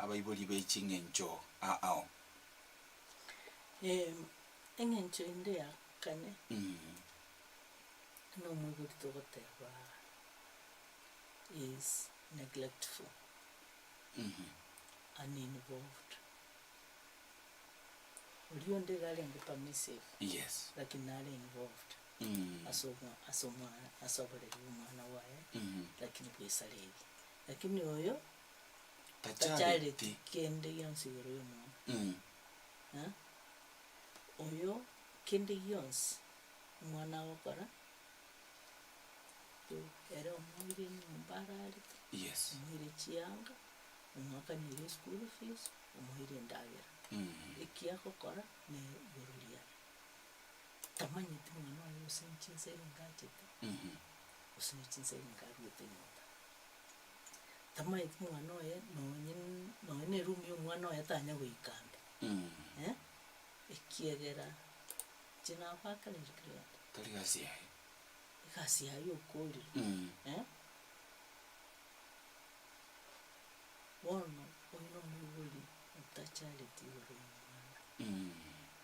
abaibori be ching'encho ao. Eng'encho ende ya kane, buna omoibori togoteba is neglectful, uninvolved, oria onde iga arenge permissive, lakini nare involved. ase omwana ase oboreri bw'omwana bwaye, lakini bw'Isareri, lakini oyo tachareti kende gionsi igoro y'omwana, eh, oyo kende gionsi omwana agokora, tu ere omoire enyomba ararete, omoire chianga, omwakanire eschool fees, omoire endagera, eki agokora nere igoro riaye. tamanyeti omwana oye gose inche inse ere ngachete, gose ne chinsa ere nkaruete nyomba. Tamanyeti omwana oye nonye n- nonye ne eroom ya omwana oye tanya goika ande, eh, ekiagera inche nagoakanire kera egento. Tari gasi yaye. Egasi yaye okoorire, eh. Bono oyio na omoibori otachareti igoro y'omwana.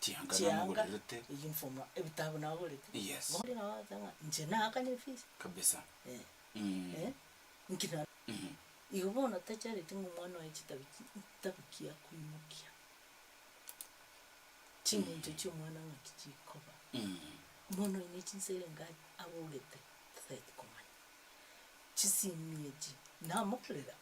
Chianga chianga namogorerete. uniform na ebitabu nagorete. Yes. Bono nabo bagoteba ng'a inche naakane efees. Kabisa. Eh. Mm. Eh. Nki na. Mhm. Igo bono tachareti ng'a omwana oye chitabu chi tabikia koimokia. Chiminto chia omwana ng'aki chikoba. Mm. Omwana oye ne chinsera enga agorete tatagete komanya. Chisimi echi namokorera.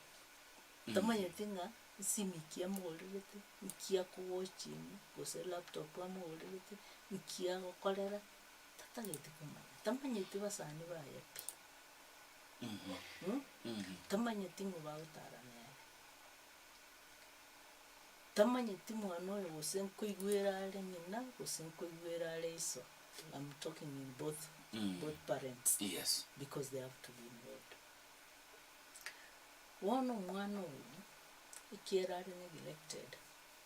Tamanyeti ng'a Esimi ekia amogorerete, nki akowatchinga, gose laptop amogorerete, nki agokorera, tatageti komanya, tamanyeti abasani baye pi, tamanyeti ng'o bagotara nere, tamanyeti mwana oyo gose nkoigwera are ng'ina gose nkoigwera are iso, am talking in both both parents, because they have to be involved. Bono omwana oyio, ekiagera are neglected,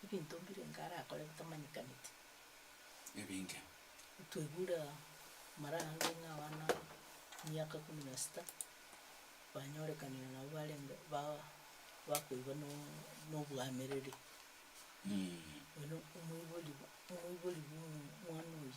ebinto mbire enka arakore bitamanyekaneti, Ebinge. twaigure aa, mara ande ng'a abana miaka kumi na sita, banyorekanire nabo barenge ba- bakoiba no nobwamereri, oino omoibori omoibori bwa omwana oyio.